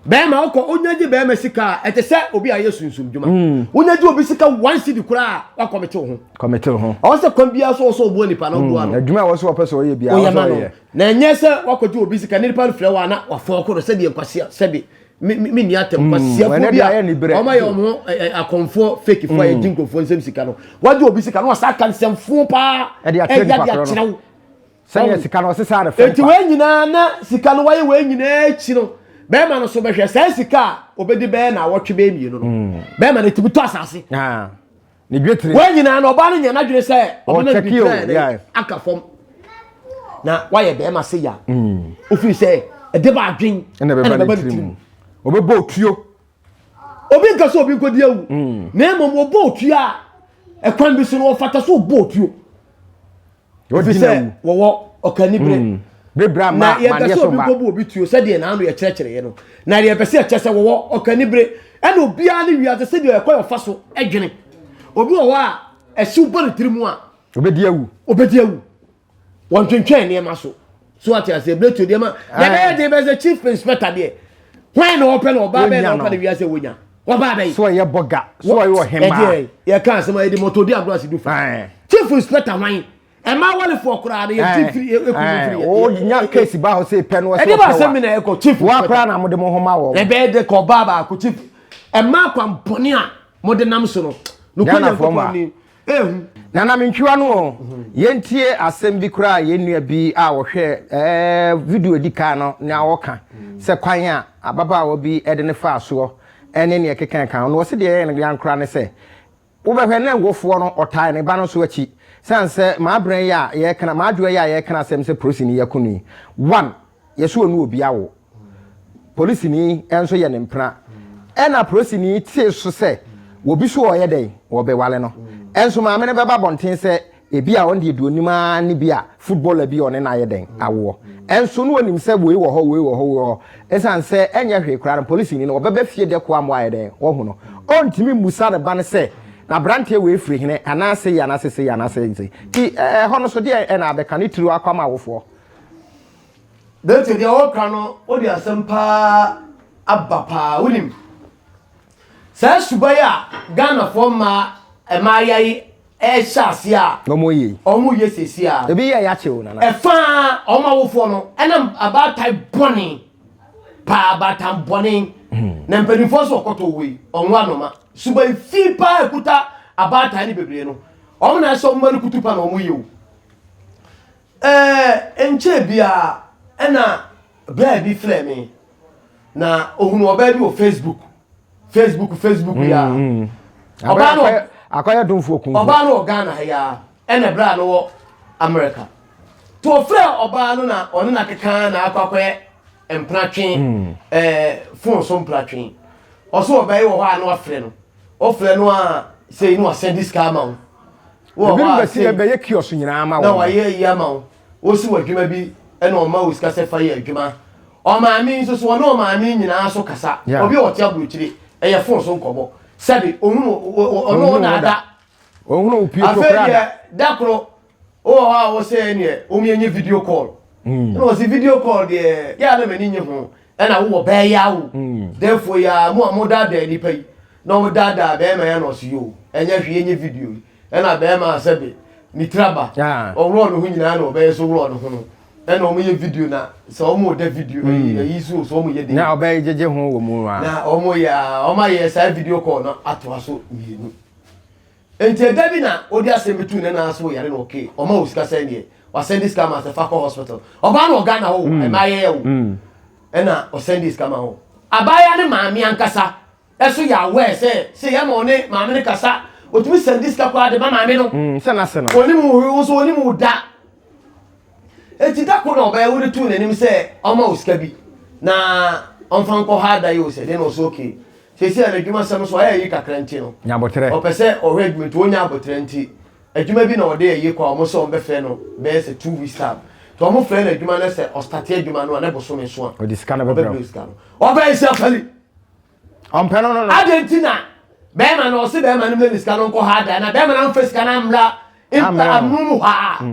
bɛrima ɔkɔ onya gye bɛrima sika a ɛte sɛ obi a yɛ sunsum dwuma hmm. wonya gye obi sika one city koraa wakɔmete wo ho kɔmete wo ho ɔwɔ sɛ kwan biara so ɔsɛ ɔboa nipa na ɔboa no hmm. adwuma a wɔsɛ wɔpɛ sɛ ɔyɛ biara ɔyɛ ma no na ɛnyɛ sɛ wakɔgye obi sika ne nipa no frɛ wɔ a na wafɔn koro sɛdeɛ nkwasea sɛdeɛ me ni atɛm hmm. kwasiafoɔ bi a wɔn ayɛ wɔn akɔnfoɔ fakefoɔ a yɛgye nkurɔfoɔ nsɛm sika no wagye obi sika no wasa aka nsɛmfoɔ paa ɛde akyerɛ wo Sɛdeɛ sika no ɔsesa no fam kwa. Enti wei nyinaa na sika no wayɛ wei nyinaa akyi no bɛrima no so bɛhwɛ saa sika a obedi bɛyɛ na awɔtwe bɛyɛ mmienu no hmm. bɛrima no tumi tɔ asase. Ah. Ne dwetire. Wei nyinaa no ɔbaa no nyɛ n'adwene sɛ ɔbɛma dwetire aka fam na wayɛ bɛrima se ya. Hmm. Ofiri sɛ ɛde ba adwen ɛna ɛbɛba ne tirim. Ɔbɛbɔ otuo. Obi nka sɛ obi nkɔdi awu. Hmm. Na mmom ɔbɔ otuo a ɛkwan bi so no ɔfata so ɔbɔ otuo. ɛfiri sɛ wɔwɔ ɔkani berɛ hmm. bebrɛ ma na yɛmpɛ sɛ obi nkɔbu obi tuo sɛdeɛ naano yɛkyerɛkyerɛeɛ no na deɛ yɛpɛ sɛ yɛkyɛ sɛ wɔwɔ ɔkani berɛ ɛna obiara ne wiase sɛdeɛ ɛkɔ yɛfa so adwene obi wɔ hɔ a ɛhyew bɔ ne tiri mu a obɛdi awu obɛdi awu wɔntwentwɛn nneɛma so so ate ase ebile to deɛ ma deɛ bɛyɛ den bɛyɛ sɛ chief inspector deɛ hwan na ɔpɛ na ɔbaa bɛyɛ na ɔpɛ na wiase wonya ɔbaa bɛyɛ. so ɛyɛ bɔga so ɛyɛ ɔhɛmaa ɛdeɛ yɛ kan asɛm ɛde mɔtɔ di agorɔ ase du fa chief inspector hwan ɛmaa wɔlefoɔ koraa no yɛfiri firi ɛkufiri wonya kesi ba hɔ sɛ pɛ no ɛde ba asɛm mi na ɛkɔ chief woakora na mode mo ho ma wɔ ɛbɛyɛ de kɔ ɔbaa baako chief ɛmaa kwampɔne a mode nam so no nokwanya nkɔkɔ ni ehu. Nanamintwiwa no oo, yɛntie asɛm bi koraa a yɛn nua bi a ɔhwɛɛ ɛɛ video a edi kan no na ɔka sɛ kwan a ababaawa bi de no faa soɔ ne nea ɛkekae ka ho no. Ɔse deɛ ɛyɛ no yan koraa ne sɛ, wobɛhwɛ na wofoɔ no ɔtae ne ba no nso akyi. Sane sɛ m'abrɛ yi a yɛka, m'adwoɛ yi a yɛka asɛm sɛ polisini yi ako no yi, one, yɛse ɔne obi awo. polisini nso yɛ ne mpena. Ɛnna polisini tee so sɛ obi so ɔreyɛ dɛn? Ɔrebɛware no. Nso maame no bɛba abɔnten sɛ ebia ɔno deɛ deɛ ɔnim ara ne bi a footballer bi a ɔne no ayɛ dɛn? Awoɔ. Nso na ɔnim sɛ wei wɔ hɔ, wei wɔ hɔ, wei wɔ hɔ. Ɛsiane sɛ ɛnyɛ hwee koraa no, polisini no ɔbɛba fie dɛ koa ma wayɛ dɛn? Wahu no. Ɔrentumi mmisa ne ba no sɛ, Na aberanteɛ wei firi he? Anaa sei, anaa sei, sei, anaa sei, sei. Nti ɛhɔ no so deɛn na abɛka ne tiri akɔ ama awofoɔ? Dante deɛ ɔka no wode asɛm paa aba paa wonim saa suban a Ghanafoɔ mmaa mmaayewa yi ɛhyɛ aseɛ a wɔn yɛ wɔn yɛ sɛsi a ebi yɛ yakye o nana ɛfa wɔn awofoɔ no ɛnam abaatan bɔne paa abaatan bɔne hmm. na mpanimfoɔ so ɔkɔtɔ wei wɔn anoma suban fi paa ekuta abaatan ne bebree no wɔn na ɛsɛ wɔn mma no kutu pa na wɔn yɛ o. Ɛɛ, nnkyɛɛ biara na bɛɛ bi frɛɛ me, na ohunuu ɔbaa bi wɔ Facebook. Facebook, Facebook yi ara. Mm, mm. Ɔbaa no wɔ- Akɔyɛ domfoɔ kumfoɔ. Ɔbaa no wɔ Ghana ha yi ara, ɛna berɛ a no wɔ America. To ɔfrɛɛ ɔbaa no na ɔne no akekaa na akɔ akɔyɛ mpratwe, ɛɛ, phone so mpratwe. Ɔse ɔbaa yi wɔ hɔ a na wafrɛ no. Ɔfrɛ no a, sei na wasɛnde sika ama wo. Wowɔ hɔ a, Ebinom bɛsi dɛ bɛyɛ kiosk nyina ama wo. Na wɔayɛ iyi ama wo. Wosi wo adwuma bi na wɔma wo sika sɛ fa yɛ adwuma. Ɔmaame yi nso so, wɔne ɔmaame yi nyinaa so kasa. Yeah. Obi a ɔte aburokyire, ɛyɛ fon so nkɔmmɔ. Sɛbe, ɔhunu wo, wo- wo- ɔne wo na ada. Ɔhunu wo pue so Afei koraa deɛ, da. da koro, wowɔ hɔ a wo sɛ ɛneɛ, wɔnyɛ video call. Ɛna wɔse video call deɛ, yɛ a na m'ani nnye ho. Ɛna wowɔ bɛɛ yi ara o. Dɛɛfoɔ yi ara, mo a mo daadaa nnipa yi, na ɔmo daadaa bɛɛma yi ana ɔse yoo, ɛnyɛ hwee nyɛ video yi, ɛna bɛɛma a sɛbe ne tiri aba, ɔworɔɔ ne ho nyinaa na ɔbɛyɛ so worɔɔ ne ho no, ɛna ɔmo yɛ video na sɛ ɔmo da video ɛyi ɛyi so o so ɔmo yɛ dɛn. Na ɔbɛyɛ gyegye ho wɔ mu a. Na ɔmo yɛ a, ɔmo ayɛ saa video call no atoa so mmienu. Enti ɛda bi na ɔde asɛm bi too ne nan ase wɔ yare na ɔkee, ɔma wɔ sika sɛn deɛ, wasɛnde sika ma sɛ fa kɔ hospital. Ɔbaa no wɔ Ghana hɔ o, mm. ɛma yɛyɛ o. Mm. Ɛna ɔsɛnde sika ma hɔ. Abaayewa ne maame ankasa ɛso yɛ aware sɛ sɛ yɛma ɔne maame no kasa, ɔtumi sɛnde sika koraa de ma maame no. Mm, sɛ n'ase no. Ɔnim wo hwee, wo nso ɔnim wo da. Enti da ko na ɔbɛyɛ wode tuu n'anim sɛ ɔma wo sika bi na ɔmfa nkɔ ha da yi o sɛ dɛn na ɔsɛ okay seesei a n'adwuma sɛm nso ayɛ ayi kakra nti no Nya aboterɛ. ɔpɛ sɛ ɔhwɛ adwuma nti ɔnnya aboterɛ nti adwuma bi na ɔde ayi kɔ a ɔmo sɛ ɔmo bɛfrɛ no bɛyɛ sɛ two weeks time nti ɔmo frɛ no adwuma no sɛ ɔstate adwuma no a ne bosome so a Ɔde sika no bɛbrɛ ɔbɛbrɛ wo. wo sika no ɔbɛyɛ sɛ afali Ɔmpɛ no no no. Adɛn nti na bɛɛma no ɔse bɛɛma no mmrɛ ne sika no ɔnkɔ ha da na bɛɛma no amfa sika no ammra Ammrɛ no. amonom hɔ a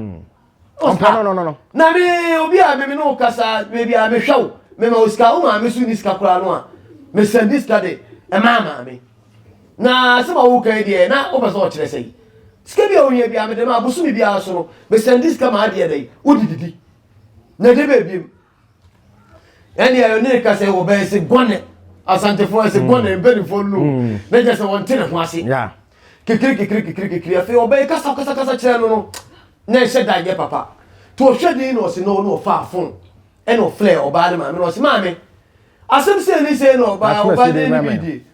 ɔmpa no no no no na me obi a me me no kasa baabi a mehwɛ wo mema wo sika wo maame so ni sika koraa no a mesɛndi sika de ɛmaa maame na asɛm a woka yi deɛ na wopɛ sɛ ɔkyerɛ sɛ yi sika bi a wohia bi a mede ma abosome biara so no mesɛndi sika ma adeɛ dɛ wode didi na de bɛbiem ɛne ayɛ ne ka sɛ wɔbɛyɛ se gɔne asantefoɔ ɛse mm. gɔne mpanifoɔ no mm. na gya sɛ wɔnte ne ho ase kekere kekere kekere kekere afei ɔbɛyɛ kasa kasa kasa kyerɛ no no na ɛhyɛ da nyɛ papa to ɔhwɛ din na ɔse no na ɔfaa fon ɛna ɔfrɛ ɔbaa ne maame na ɔse maame asɛm sɛ ne sɛ na ɔbaa ɔbaa ne ne bi die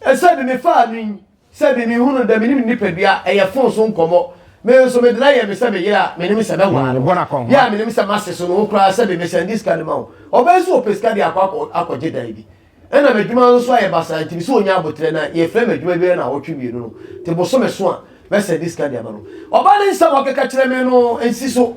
ɛsɛ de ne faa no yi Sɛbi, mehunu dɛ minyim ne nyimpadua, ɛyɛ fon so nkɔmbɔ. Me nso, medze no ayɛ me sɛ me yer a minyim sɛ bɛwaa no. Yer a minyim sɛ m'ase so no wo koraa, sɛbi, mesan dze sika no ma wo. Ɔbaa yi so wɔpɛ sika dze akɔ akɔgye dan bi. Nna m'edwuma no so ayɛ basaa ntsi misɛ onya aboterɛ na yefrɛ me edwuma biara naawɔtwe mienu no tse bosome so a, mɛsan dze sika dze ama no. Ɔbaa no nsɛm a ɔkɛka kyerɛ me no nnsi so.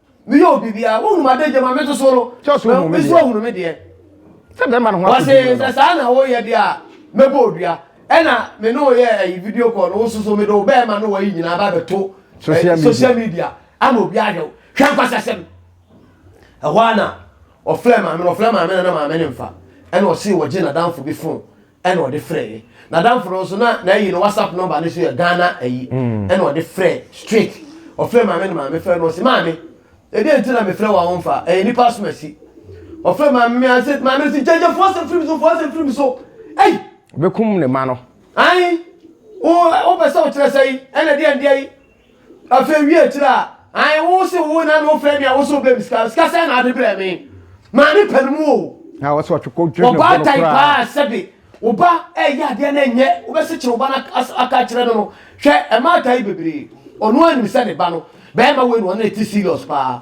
meyɛ obi bia wohunu m'adagya mu a mete so no nso ahunu me deɛ sɛ bɛrima no ho wɔse sɛ saa na woyɛ deɛ a mɛbɔ odua ɛna me ne woyɛ ayi video call no wo soso mede wo bɛrima ne wayi nyinaa ba bɛto eh, social media ama obi ahwɛ wo hwɛ nkwasasɛm ɛhɔ a na ɔfrɛ maame no ɔfrɛ maame no na maame ne mfa ɛna ɔse wɔgye nadamfo bi fon ɛna ɔde frɛɛ n'adamfo no nso na n'ayi no whatsapp number no so yɛ ghana ayi mm. ɛna ɔde frɛ straight ɔfrɛ maame no maame frɛ no ɔsi maame ɛdi nti na mefrɛ wɔn wɔn fa ɛyɛ nipa so asi ɔfrɛ maame mi ase maame no si gyɛgyɛ fo asɛm firi mi so fo asɛm firi mi so ɛyi. bɛkum ne ma no. ayi wo wo pɛ sɛ ɔkyerɛ sɛ yi ɛna ɛdi ɛdi ayi. Afei wi akyire a, ae wo se wo na no frɛ me a wo se wobɛ me sika, sika sɛ na ade brɛ me? Maa ne pɛ no mu o. Na wɔsɛ ɔtwekɔ dwere ne bono koraa. Wɔbaatae paa sɛbe wo ba ɛyɛ adeɛ no ɛnyɛ wobɛsekyere wo ba no aka kyerɛ no no hwɛ ɛma atae bebree ɔno anim sɛ ne ba no bɛɛma wei no ɔne ne te serious paa.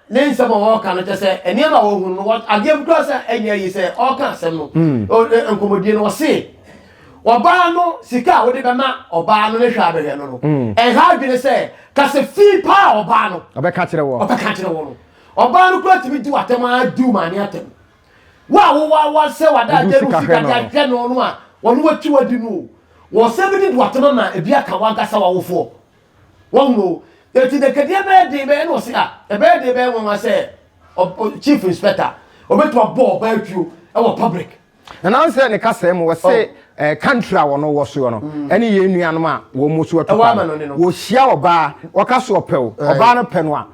Ne nsɛm a ɔreka no kyɛ sɛ nneɛma a ɔhunu no, adeɛ bi koraa sɛ ɛnyɛ ayi sɛ ɔreka asɛm no. Mm. Nkɔmmɔdie no, ɔse ɔbaa no sika a wode bɛma ɔbaa no ne hwɛ a bɛhwɛ no no, mm. ɛnha adwene sɛ ka sɛ fi paa a ɔbaa no ɔbɛka kyerɛ wɔ ɔbɛka kyerɛ wɔ no. Ɔbaa no koraa tumi di w'atɛm ara di wo maame atɛm. Wo a wowɔ awa sɛ wada adeɛ no sika de ahwɛ no no a wɔn wɔatwi wadi no o. Wɔsɛ bi de di w'atɛm ama ebi aka w'ankasa w'awofoɔ. Wɔhunu o. Enti Dekadeɛ bɛyɛ den bɛyɛ na ɔse a, ɛbɛyɛ den bɛyɛ nwanwa sɛ Chief Inspector ɔbɛtumi abɔ ɔbaa atuo wɔ public. Na n'ansɛ ne kasaa mu ɔse country a wɔn wɔ soɔ no ɛne yɛn nuanom a wɔn nso atu kwan no, wɔhyia ɔbaa ɔka so ɔpɛ o, ɔbaa no pɛ no a,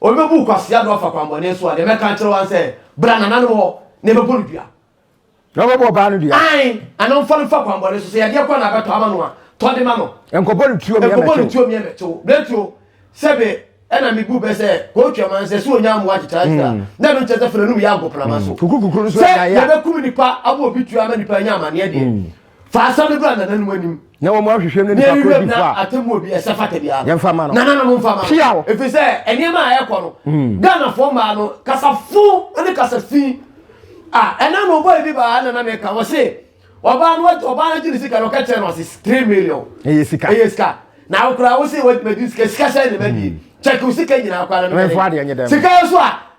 Obi bebu Kwasi Addo afa kwammɔne so a, deɛ mɛka akyerɛ wo ara ne sɛ, bra nananom hɔ na yɛbɛbɔ no dua. Na wobɛbɔ ɔbaa no dua? Aane, anaa mfa no mfa kwammɔne so. Sɛ yadeɛ kora na abɛtɔ ama no a, tɔ de ma no. Nkɔbɔ no tuo mmea mmɛkye wo. Nkɔbɔ no tuo mmea mmɛkye wo. Berɛtu o, sɛ me na mebu bɛ sɛ kɔ Twam ansa, sɛ ɔnya mmoa akyekyere ansa a, na ɛno nkyerɛ sɛ fa n'anom yɛ agoprama so. Sɛ yɛbɛkum nnipa ama obi tuo ama nnipa anya amanneɛ deɛ, fa asɛm no bra nananom anim na wɔn ahwehwɛ no nipa koro bi fa atemmuo bi ɛsɛ fata biara yɛmfa ma no nananom mfa ma pia o ɛfiri sɛ nneɛma a ɛkɔ no hmm. ghanafoɔ mmaa no kasafo ne kasafi a ɛna na ɔbɔ ebi baa nana meka wɔ se ɔbaa no ɔbaa no agye ne sika no ɔka kyerɛ no ɔse three million ɛyɛ sika ɛyɛ sika na akora wo se wɔdumadi sika sika sɛ ne ma die kyɛke wo sika nyinaa kora no sika yɛ so a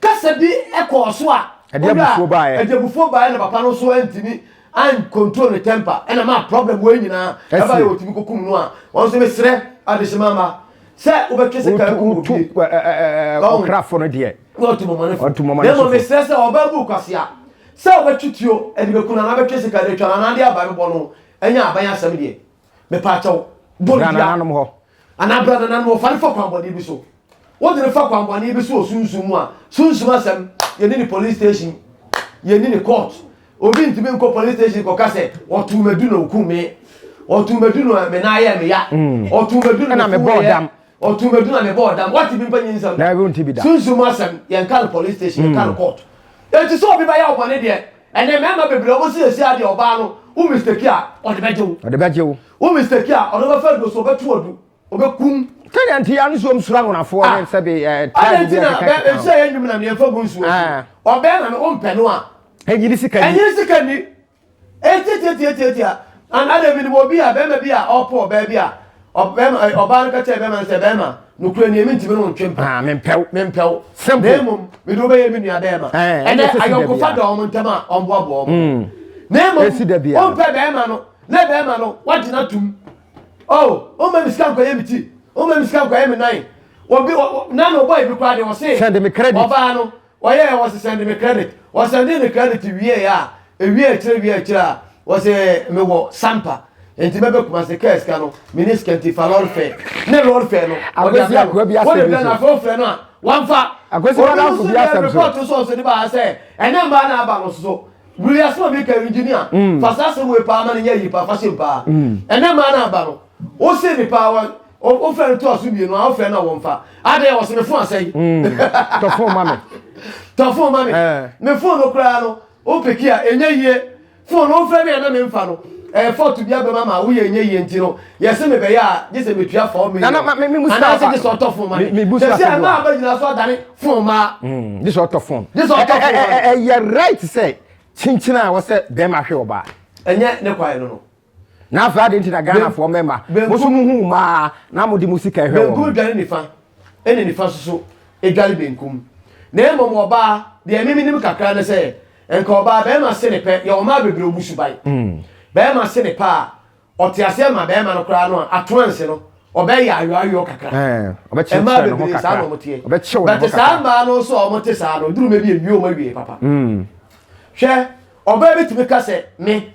Kasa bi kɔɔ so a Ɛde ɔdɔ a abufuo baeɛ. ɛde abufuo baeɛ na papa no nso antumi ancontrol ne temper ɛna maa problem wei nyinaa Ɛsie. ɛbaeɛ wɔtumi kɔkum no a wɔn nso mesrɛ adehyema mma sɛ wobɛtwe sika Wotu akum wotu obi ɛ- ɛ- ɛ- ɛ- Ɔn. ɔkrafo no deɛ. na ɔtu mmɔmɔnefo Ɔtu mmɔmɔnefo. na mmom mesrɛ sɛ ɔbaa bu kwasea sɛ wobɛtwe tuo de bɛku no anaa bɛtwe sika de atwa no anaa de aba bɛbɔ no ɛnyɛ aban asɛm deɛ mepaakyɛw bɔ no Ghana dua nanom hɔ. Anaa bra nana no wɔfare fa kwanbɔne bi so wode no fa kwanbɔne bi so wɔ sunsum mu a sunsum asɛm yɛni ne police station yɛni ne court obi ntumi nkɔ police station kɔka sɛ ɔtoo madu na ɔku me ɔtoo madu na me nan ayɛ me ya mm. ɔtoo madu na me fo yɛ ɔtoo madu na me bɔ ɔdam wate bi mpa nyi nsɛm da sunsum asɛm yɛnka no police station yɛnka no mm. court eti sɛ obi bɛyɛ ɔbɔne deɛ Ɛnɛ mmarima bebree a wɔsiesie adeɛ ɔbaa no wo mistake a ɔde bɛgye wo. Ɔde bɛgye wo. Wo mistake a ɔde bɛfa aduro so ɔbɛto adu ɔbɛkum. Sɛdeɛ nti a nsuom soro anwonafoɔ ne sɛ bi ɛɛ tribe bi ɛkeka keka. Ɛnti na bɛ nhyɛ yɛn nnwom na mmiɛnfa gu nsuo so. Ɔbɛn na no ɔmpɛ no a. Ɛnyini sika ni. Ɛnyini sika ni. Ɛtiatiatiatiatia. Anaa dɛ menim obi a bɛrima bi a ɔpɔ ɔbaa bi a Ɔbarima, eh, ɔbaa no ka kyerɛɛ bɛrima no sɛ, Bɛrima, nokorɛ nie, mentimi ne wo ntwe mpa. Ah, mempɛ wo. Mempɛ wo. Simple. Na mmom, mede wo bɛyɛ me nua bɛrima. Eh, ɛnɛ Ɛnɛ ɛsɛ si da ayɔnkofa biara. da wɔn ntam a wɔboaboa wɔn. Mm. Na mmom, Ɛsi da biara. wompɛ bɛrima no, na bɛrima no, wagye no atom. Oh, woma me sika nkɔyɛ me ti. Woma me sika nkɔyɛ me nan. Obi, ɔ- ɔ- na na ɔbɔe bi koraa deɛ ɔse, Send me credit. ɔbaa no, Wɔyɛɛ wɔse sɛnde me credit wɔsɛndee me credit wieɛ a ɛwie akyire wie akyire a wɔse me wɔ sampa nti mɛbɛ kumase kaa sika no meni sika nti fa lorry fare ne lorry fare no wɔde abrɛ no wɔde brɛ no afei wofrɛ no a wamfa Akwasi obi Badamfo nso bi deɛ asɛm so. report nso nso de baa sɛ ɛnɛ mbaa na aba no so wuli asɛm a meka engineer fa saa asɛm wei paa ma no nyɛ yi paa fa hyɛ mu paa ɛnɛ mbaa na aba no wose me paa wɔ o fɛ no to aso mmienu a o fɛ na wɔn fa adɛ wɔsi ne fon asɛn. Hmm. tɔ fon ma mi. tɔ fon ma mi. Eh. ne fon no koraa no o peki a enye yie fon no o fɛ mi a na mi nfa no ɛɛ eh, fɔtu bi abɛma ma o yɛ enye yie nti no yɛsi mi bɛyɛ a gye sɛ mi tua fɔɔ mi yɛ anaasɛ gye sɛ ɔtɔ fon ma mi gye sɛ ɛmaa abɛ nyina so adane fon ma. gye sɛ ɔtɔ fon. gye sɛ ɔtɔ fon ma mi. ɛyɛ right sɛ kyinkyin a wɔsɛ bɛrima hwɛ ɔbaa. ɛnyɛ ne kwan no no. na afei ade nti na ghanafoɔ mɛma mo so muhu mmaa na mode mo sika hwɛ wɔn benkum dwane nifa ɛne nifa soso ɛdwane benkum na mmom ɔbaa deɛ me menim kakra ne sɛ nka ɔbaa bɛrima se ne pɛ yɛwɔ mmaa bebree ɔmu suban mm. bɛrima se ne pɛ a ɔte aseɛ ma bɛrima no koraa no a atoanse no ɔbɛyɛ ayoayoɔ kakra mmaa bebree saa na ɔmoteɛ bɛte saa mmaa no nso a ɔmote saa no duruma bi ɛwie ɔma wie papa hwɛ ɔbaa bɛtumi ka sɛ me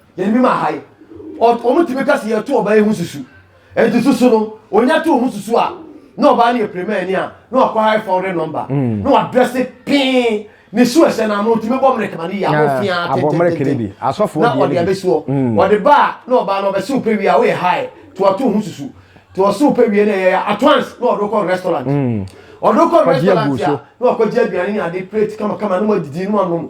Yɛn bi ma ha yi, wɔn tumi ka sɛ yɛto ɔbaa yi ho susu. Enti susu no, onya to ho susu a, na ɔbaa no yɛ pirimani a, na wakɔ high phone re nɔmba, mm. na wadrɛse pee, ne su ɛhyɛ no ano, ntumi bɔ mmerɛkɛ ma ne yɛ abɔ fiaa tentententen, na ɔde abɛsuɔ. Mm. Ɔde ba a, na ɔbaa no ɔbɛsew pɛ wie a, woyɛ high, to ato ho susu. To ɔsew pɛ wie na ɛyɛ at once, na ɔde kɔ restaurant. Mm. Ɔde kɔ restaurant a, na wakɔgye aduane ne ade plate kamakama, na wadidi, na wanom,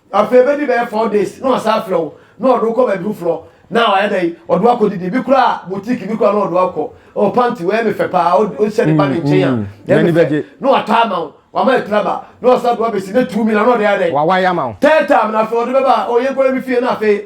Afei ebedi bɛyɛ four days na ɔasan afrɛ wo na ɔde wo kɔ baabi foforɔ na ɔayɛ dɛn ɔde wo akɔdidi ebi koraa boutique bi koraa na ɔde wo akɔ oh panty wei yɛ me fɛ paa wohyɛ de ba ne nkyɛn a ɛyɛ me fɛ na watɔ ama wo wama atiri aba na ɔsan de wo abɛsi ne two million na ɔde ayɛ dɛn third time na afei ɔde bɛba a oh yɛnkɔ yɛ me fie na afei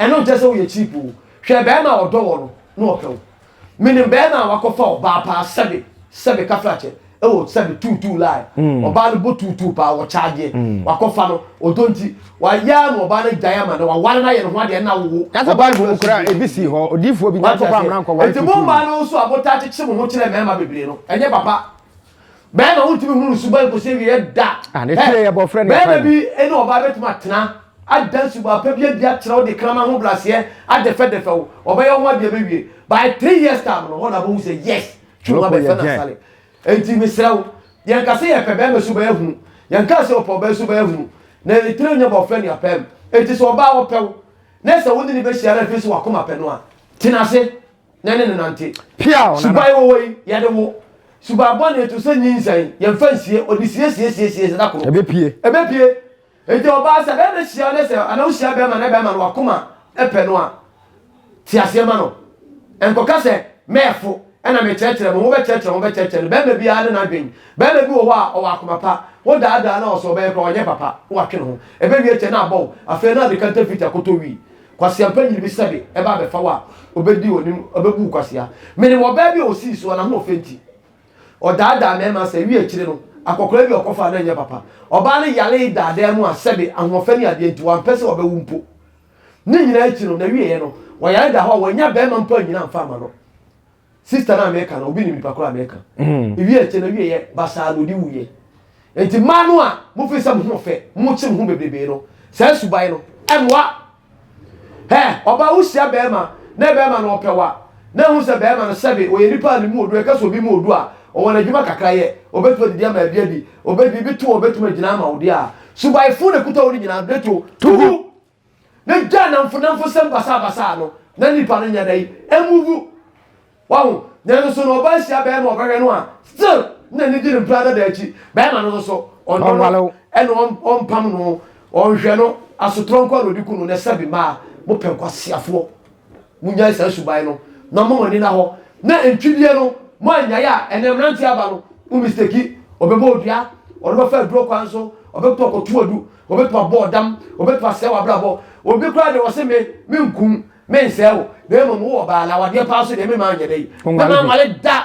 Ɛno nkyerɛ sɛ woyɛ cheap o. Hwɛ bɛɛma a ɔdɔ wɔ no na ɔpɛ wo. Menim bɛɛma a wakɔfa ɔbaa paa sɛbe sɛbe kafrakyɛ ɛwɔ sɛbe tuu tuu line ɔbaa no bɔ tuu tuu paa wɔ kyagyeɛ wakɔfa no ɔdɔ nti wayɛ ama ɔbaa no agyae ama no waware no ayɛ ne ho adeɛ na awo wo. Kasa ɔbaa bible mu kora a ebi sii hɔ odiifoɔ bi nkyɛn kɔkɔ amena nkɔware tuu tuu no. Enti mo mmaa no nso a motaa kyekye mo ho kyerɛ mmarima bebree no ɛnyɛ papa. bɛrima wontumi hunu ne suban kɔsi awieɛ da ah, bɛrima bi ne ɔbaa bɛtumi atena ada suban pa bi adi akyerɛ wo de krama ho braseɛ adɛfɛdɛfɛ wo ɔbɛyɛ ho adeɛ bɛwie by three years time no hɔ na bɛhu sɛ yes twuma bɛfɛ na sale enti mesrɛ wo yɛnka sɛ yɛpɛ bɛrima suban ahunu yɛnka sɛ ɔpɛ ɔbaa suban ahunu na ɛtire nyɛ bɔfrɛ ne apɛm enti sɛ ɔbaa wɔpɛ wo na sɛ wo ne ne bɛhyia no afei sɛ wakoma pɛ no a tena ase na ne no nante. Piaw nana. Suban wɔwɔ yi, yɛde wo. Suban bɔne to sɛ nyinsɛn, yɛmfa nsie, ɔde siesiesiesie sɛ da koro. Ɛbɛpie. Ɛbɛpie. Enti ɔbaa sɛ bɛrima hyia wo ne sɛ anaa wohyia bɛrima na bɛrima no wakoma pɛ no a, te aseɛ ma no. Nkɔka sɛ, mɛɛfo na mekyerɛkyerɛ me ho, wobɛkyerɛkyerɛ ho, wobɛkyerɛkyerɛ no. Bɛrima biara ne n'adwen. Bɛrima bi wɔ hɔ a, ɔwɔ akoma pa. Wodaadaa no a, ɔsɛ ɔbɛyɛ koraa, ɔnyɛ papa, na watwe ne ho. Ɛbɛwie kyɛ na abɔ wo. Afei na ade kantafiti akoto wii. Kwasea mpanyin bi sɛbe ba abɛfa wo a, obedi w'anim, obebu wo kwasea. Menim ɔbaa bi a osii so a n'ahoɔfɛ nti, ɔdaadaa mmarima sɛ awiei akyiri no, akwakoraa bi a ɔkɔfaa no anyɛ papa. Ɔbaa no yaree daadaa mu a sɛbe ahoɔfɛ ne adeɛ nti, wampɛ sɛ ɔbɛwo mpo. Ne nyinaa akyi no, n'awieeɛ no, ɔyare daa hɔ a wannya barima mpo annyina amfa amma no. Sister no a meka no, obi nim nipa koro a meka. Ewie akyɛ no, ewie yɛ basaa na odi wu yɛ. Enti mmaa no a mo fi sɛ mo ho fɛ, mo kye mo ho bebrebee no, saa suban no, ɛmoa. Hɛ, ɔbaa wo hyia bɛɛma, na bɛɛma no ɔpɛ wa, na ehu sɛ bɛɛma no sɛbe, ɔyɛ nipa a ne mu odu, ɛka sɛ obi mu odu a, ɔwɔ n'adwuma kakra yɛ, ɔbɛtumi adidi ama ebi adi, ɔbɛtumi, ebi to a ɔbɛtumi agyina ama wo deɛ a, suban fo na ekuta wo no nyinaa, bɛto, tugu. Na gyaa namfonamfosɛm basabasa no na nipa no nyɛ dɛn? Ɛmuvu. Wahu? Nanso na ɔbaa hyia bɛɛma ɔbɛhwɛ no a, still na nidi no mpira dada akyi. Bɛɛma no nso ɔnnɔ no ɛna ɔmpam no, ɔnhwɛ no, asotorɔ nkoa na ɔde ku no. Nɛ sɛbi mmaa, mopɛ nkwaseafoɔ. Monnyae saa suban no na momma mo ani nna hɔ na ntwideɛ no mo annyae a ɛnɛ mmeranteɛ aba no mo mistake ɔbɛbɔ odua ɔno bɛfa aduro kwan so ɔbɛkɔ akɔto adu ɔbɛtumi abɔ ɔdam ɔbɛtumi asɛe w'abrabɔ obi koraa deɛ wɔse me menkum mensɛe wo na mmom wowɔ baa na awadeɛ paa so deɛ mema anyɛ dɛ mema nwale da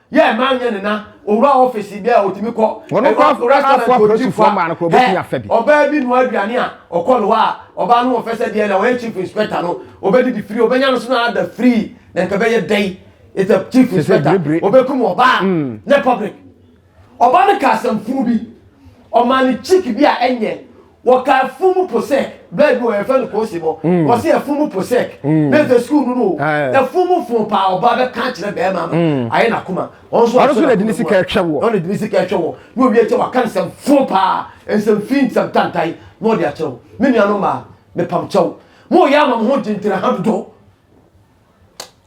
Yɛ ɛma anyɛ ne na owura ɔfisi bia otumi kɔ. Ɔno kɔ restaurant fo aprosi fo maa no kɔ obetumi afɛ bi. Ɔbaa bi nua aduane a ɔkɔ no hɔ a ɔbaa no ɔfɛ sɛ deɛ na ɔyɛ chief inspector no obedidi free obenya no so na ada free na nka bɛyɛ dɛn it's a chief inspector obekum ɔbaa nyɛ public. Ɔbaa no ka asɛm funu bi ɔmaa ne chick bi a ɛnyɛ wɔka afumu po sɛ bɛɛ bi wɔ yɛfɛ no koosi bɔ mm. wɔsi afumu po sɛ mm. bɛɛ fɛ sukuu no no o afumu fun paa ɔba bɛ kan kyerɛ bɛɛma no mm. ayɛ na kuma wɔn so aso na dini sika ɛhwɛ wɔ wɔn dini sika ɛhwɛ wɔ ne obi ɛkyɛ waka nsɛm fun paa nsɛm fi nsɛm tantan na ɔde akyerɛw me nua no maa mepam kyɛw mo yɛ ama mo ho gyintina ha dodo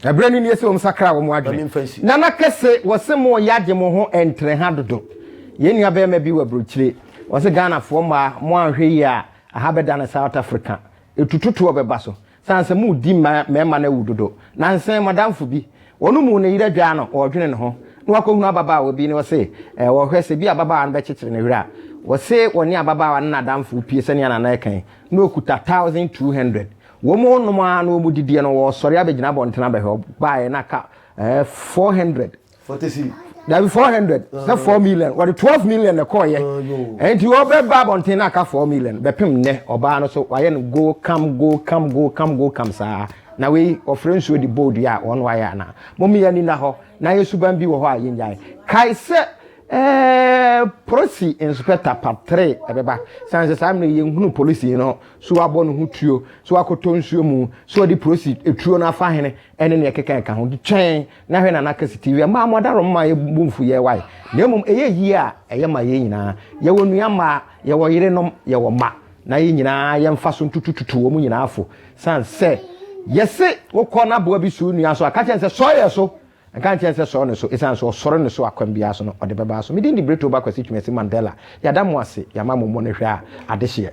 Ɛberɛ no nie sɛ wɔn sakra wɔn adwene. Nana kɛse wɔse mo yɛ agye mo ho ɛntrɛ ha dodo. Yɛn nua bɛrima bi wɔ aburokyire wɔse Ghana foɔ mmaa mo anhwɛ yie a aha bɛda no South Africa. Ɛtututoɔ bɛba so sane sɛ mo di mma mmarima no awu dodo. Nansa yi madamfo bi wɔn mu ne yere adwaa no ɔredwene ne ho na wakɔhunu ababaawa bi na ɔse ɔrehwɛ sɛ bi ababaawa no bɛkyekyere ne werɛ a. Wɔse wɔne ababaawa no nadamfo pue sɛnea Nana ɛka yi na ɔkuta thousand two hundred. Wɔnom ara na wɔdidiiɛ no, wɔsɔre abɛgyina abɔntene abɛhwɛ. Wɔbaeɛ na ka ɛɛ four hundred. Forty six. Dabi four hundred. Sɛ four million. Wɔde twelve million na ɛkɔɔyɛ. Ɛnti wɔbɛba abɔntene na aka four million. Bɛpem nnɛ ɔbaa no so wayɛ no go come go come go come go come saa. Na wei wɔfrɛ nsuo de bɔɔ dua a wɔn na wɔayɛ anaa? Mommea ani nna hɔ na yɛ suban bi wɔ hɔ a yɛnnyae. Kae sɛ. Eh, polisi inspector part three ɛbɛba san sɛ saa mmerɛ yɛn hunu polisi no so wabɔ ne ho tuo so wakɔtɔ nsuo mu so wɔde polisi etuo no afa hene ɛne nea ɛkeka ɛka ho twɛn na hwɛ na n'aka si tv mmaa mo adaro mmaa yɛ bu mfu yɛ wae na mmom ɛyɛ yie a ɛyɛ ma yɛn nyinaa yɛwɔ nua mmaa yɛwɔ yerenom yɛwɔ mma na yɛn nyinaa yɛmfa so ntutututu wɔn nyinaa fo san sɛ yɛse wokɔ n'aboa bi so nua so a ka kyɛn sɛ sɔɔ yɛ so Ɛnka nkyerɛ no sɛ sɔre no so, ɛsiane sɛ ɔsɔre no so a kwan biara so no ɔde bɛba so. Me din de Brittle Ba Kwasi Twumasi Mandela. Yɛada mo ase, yɛama mo mmɔnehwɛ a adehyeɛ.